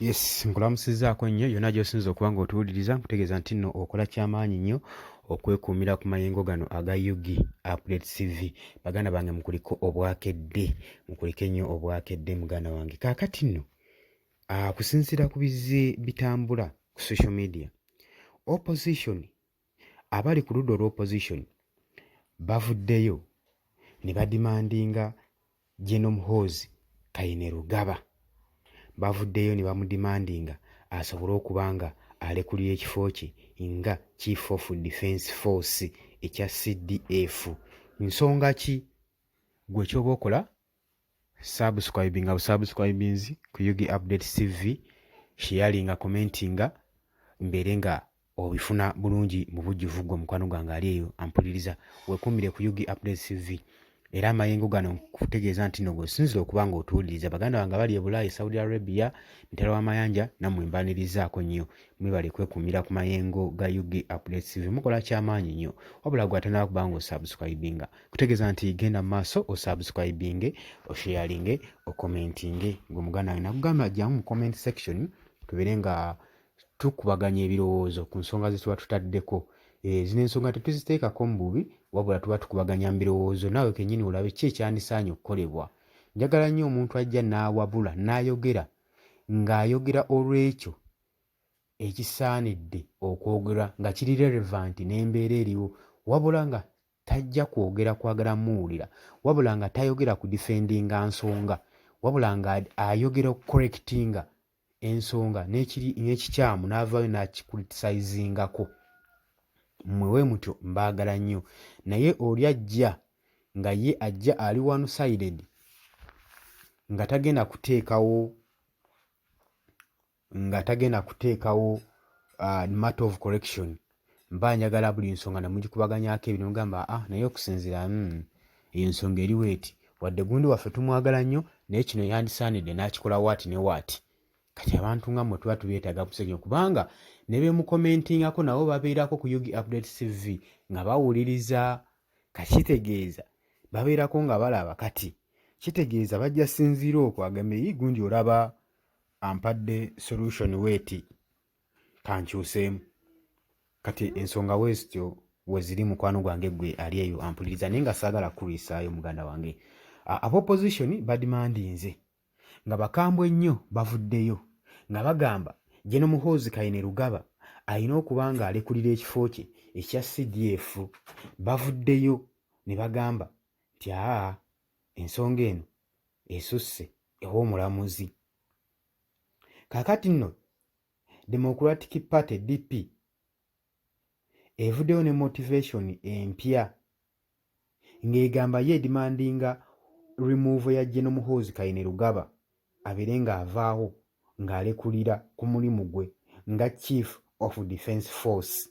yes nkulamusizaako nnyo yonna gyosinza okuba nga otuwuliriza nkutegeeza nti nno okola kyamaanyi nnyo okwekuumira ku mayengo gano aga ug update cv baganda bange mukuliko obwakedde mukulike nnyo obwakedde muganda wange kaakati nno ah, kusinziira ku bizze bitambula ku social media opposition abali ku ludda olwa opposition bavuddeyo ne badimandinga General Muhoozi Kainerugaba bavuddeyo ne bamudimandinga asobole okuba nga alekulira ekifo kye nga Chief of Defence Force ekya CDF. Nsonga ki gwe ky'oba okola subscribinga busubscribings ku ug update cv sharinga commentinga mbeere nga obifuna bulungi mu bujjuvu gwe mukwano gwange ali eyo ampuliriza wekuumire ku ug update cv era amayengo gano nkutegeeza nti no gwesinzira okuba nga otuwuliriza baganda bange bali ebulaayi saudi arabia mitala w'amayanja nammwe mbanirizaako nnyo mwebale kwekuumira ku mayengo ga ug update cv mukola kyamaanyi nnyo wabula gwe atanaba kuba nga osubscribinga kutegeeza nti genda mu maaso osubscribinge osharinge okomentinge ngaomuganda wange nakugamba jamu mu comment section tubeere nga tukubaganya ebirowoozo ku nsonga zetuba tutaddeko eh, zino ensonga tetuziteekako mu bubi wabula tuba tukubaganya mu birowoozo naawe kenyini olabe ki ekyandisaanye okukolebwa njagala nnyo omuntu ajja n'awabula n'ayogera ng'ayogera olw'ekyo ekisaanidde okwogera nga kiri relevant n'embeera eriwo wabula nga tajja kwogera kwagala muwulira wabula nga tayogera ku defendinga nsonga wabula nga ayogera okukorekitinga ensonga n'ekikyamu n'avaayo n'akikuritisayizingako mmwe we mutyo mbaagala nnyo naye oli ajja nga ye ajja ali wanusided nga tagenda kuteekawo nga tagenda kuteekawo uh, matter of correction mba njagala buli nsonga nemugikubaganyako ebyo nemugamba ah naye okusinzira mm, eyo nsonga eriwo eti wadde gundi waffe tumwagala nnyo naye kino yandisaanidde n'akikola waati ne waati kati abantu nga mwe tuba tubyetaaga musenyo kubanga ne bemukomentingako nabo babeerako ku ug update cv nga bawuliriza kakitegeeza babeerako nga balaba kati kitegeeza bajja sinziira okwo agambe yi gundi olaba ampadde solution weeti kankyuseemu kati ensonga wezityo weziri mukwano gwange gwe ali eyo ampuliriza naye nga saagala kukulwisaayo muganda wange aba opposition badimandinze nga bakambwe nnyo bavuddeyo nga bagamba jeno muhoozi kayine lugaba alina okuba nga alekulira ekifo kye ekya cdf bavuddeyo ne bagamba nti aa ensonga eno esusse ew'omulamuzi kakati nno democratic party dp evuddeyo ne motivation empya ng'egamba ye edimandinga remove ya geno muhoozi kayine lugaba abeere ng'avaawo ng'alekulira ku mulimu gwe nga chief of defense force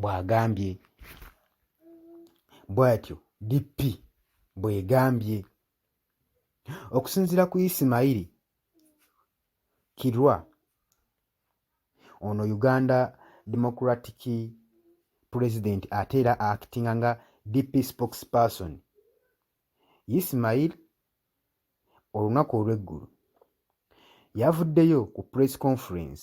bw'agambye bw'atyo DP bw'egambye okusinziira ku Isimayiri Kirwa ono Uganda Democratic President ate era actinga nga DP spokesperson Ismail olunaku olw'eggulo yavuddeyo ku press conference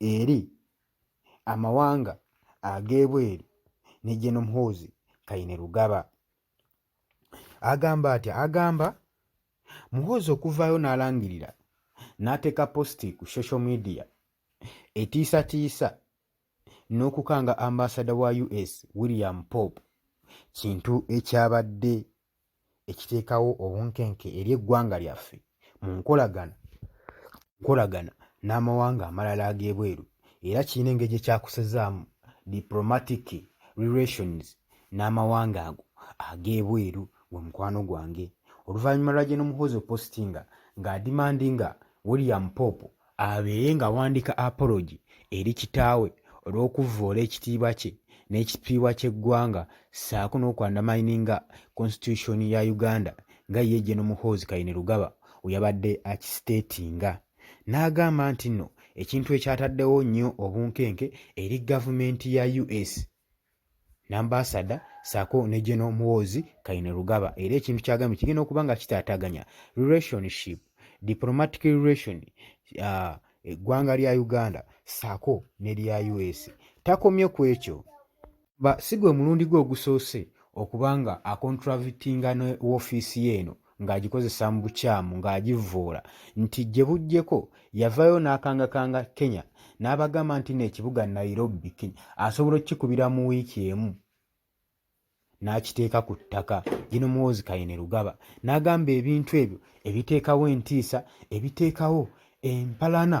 eri amawanga ag'ebweru ne Gen Muhoozi Kainerugaba. Agamba atya? Agamba Muhoozi okuvaayo n'alangirira n'ateeka positi ku social media etiisatiisa n'okukanga ambaasada wa US William Pope kintu ekyabadde ekiteekawo obunkenke eri eggwanga lyaffe mu nkolagana nkolagana n'amawanga amalala ag'ebweru era kirina engeri gye kyakusezaamu diplomatic relations n'amawanga ago ag'ebweru gwe mukwano gwange oluvannyuma lwa gye nomuhoozi opostinga ng'adimandinga william pope abeere ng'awandiika apology eri kitaawe olw'okuvvoola ekitiibwa kye n'ekitiibwa ky'eggwanga ssaako n'okwandamayininga Constitution ya Uganda nga ye Gen Muhoozi Kainerugaba we yabadde akisiteetinga n'agamba nti nno ekintu ekyataddewo nnyo obunkenke eri gavumenti ya US Nambasada saako ne General Muhoozi Kainerugaba era ekintu kyagambye kigenda okuba nga kitaataganya relationship diplomatic relation uh, eggwanga lya Uganda saako ne lya US. Takomye ku ekyo ba si gwe mulundi gwe ogusoose okuba nga akontravitinga ne woofiisi ye eno ng'agikozesa mu bukyamu ng'agivvoola nti gye bujjeko yavaayo n'akangakanga kenya n'abagamba nti no ekibuga nairobi kenya asobola okukikubira mu wiiki emu n'akiteeka ku ttaka gino muwoozi kayine lugaba n'agamba ebintu ebyo ebiteekawo entiisa ebiteekawo empalana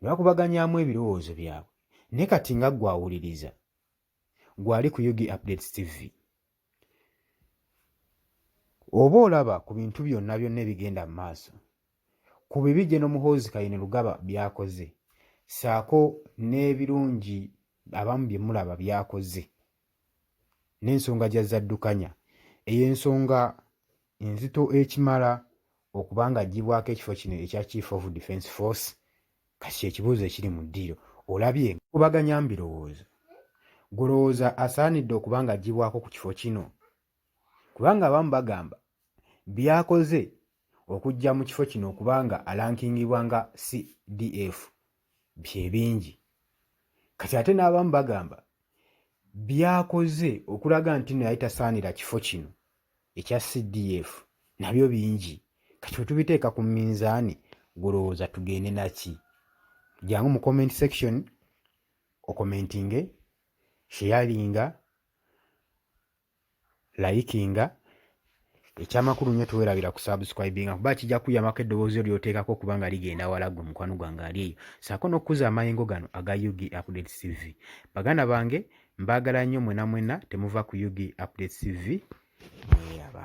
ne bakubaganyaamu ebirowoozo byabwe ne kati nga gwawuliriza gwali ku ug updates tv oba olaba ku bintu byonna byonna ebigenda mu maaso ku bibi gye nomuhoozi kayini lugaba byakoze saako n'ebirungi abamu bye mulaba byakoze n'ensonga gya zaddukanya eyo ensonga enzito ekimala okuba nga aggyibwako ekifo kino ekya Chief of Defence Force kati kyekibuuzo ekiri mu ddiiro olabye kubaganya mbirowoozo gwolowooza asaanidde okuba nga aggyibwako ku kifo kino kubanga abamu bagamba byakoze okujja mu kifo kino okuba nga alankingibwa nga cdf byebingi kati ate n'abamu bagamba byakoze okulaga nti no yali tasaanira kifo kino ekya CDF nabyo bingi kati wetubiteeka ku minzaani gulowooza tugende naki jangu mu comment section okomentinge sheyalinga layikinga ekyamakulu nnyo tewerabira ku subscribinga kuba kijja kuyamako eddoboozi lyoteekako okuba nga ligenda wala gwe mukwano gwange ali eyo saako n'okukuza amayengo gano aga ug update cv baganda bange Mbagala nnyo mwena mwena temuva ku Ug Updates TV mweyaba.